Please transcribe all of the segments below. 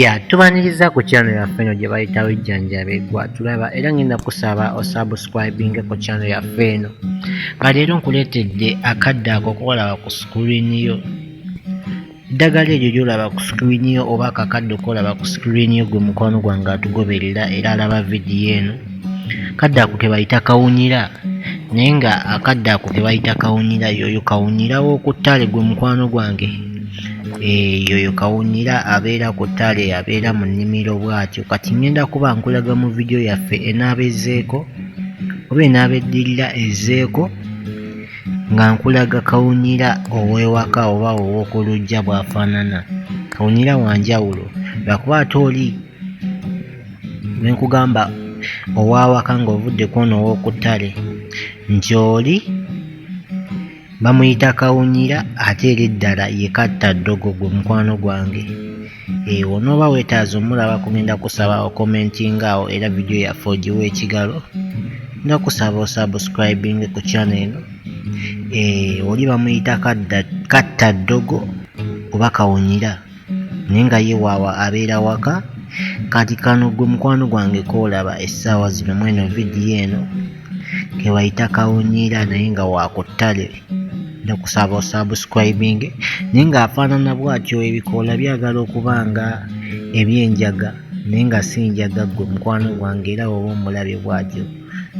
ya tubaniriza ku channel yaffe eno gye bayita wejjanjabe gwa tulaba era ngenda kusaba osubscribinge ku channel yaffe eno nga leero nkuleetedde akadde ako koolaba ku screen yo eddagala eryo lyolaba ku screen yo oba akakadde koolaba ku screen yo gwe mukwano gwange atugoberera era alaba vidiyo eno Akadde ako ke bayita kawunyira naye nga akadde ako ke bayita kawunyira yoyo kawunyira w'oku ttale gwe mukwano gwange eh, yoyo kawunyira abeera ku ttale abeera mu nnimiro bw'atyo kati ngenda kuba nkulaga mu vidiyo yaffe enaaba ezzeeko oba enaaba eddirira ezzeeko nga nkulaga kawunyira ow'ewaka oba ow'oku lujja bw'afaanana kawunyira wa njawulo lwakuba ate oli ne nkugamba ow'awaka ng'ovudde ku ono ow'oku ttale nti oli bamuyita kawunyira ate era eddala ye katta ddogo gwe mukwano gwange ewo eh, n'oba weetaaza omulaba kugenda kusaba okomentinga awo era vidiyo yaffe ogiwa ekigalo nga kusaba osubscribinge ku channel eno eh, oli bamuyita katta ddogo oba kawunyira naye nga ye waawa abeera waka kati kano gwe mukwano gwange koolaba essaawa zino mweno vidiyo eno kebayita kawunyiira naye nga wakuttale nekusaba osubscribing naye nga afaanana bwatyo ebikoola byagala okuba nga ebyenjaga naye nga si njaga gwe mukwano gwange era woba omulabye bwatyo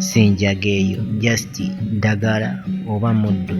si njaga eyo just ddagala oba muddu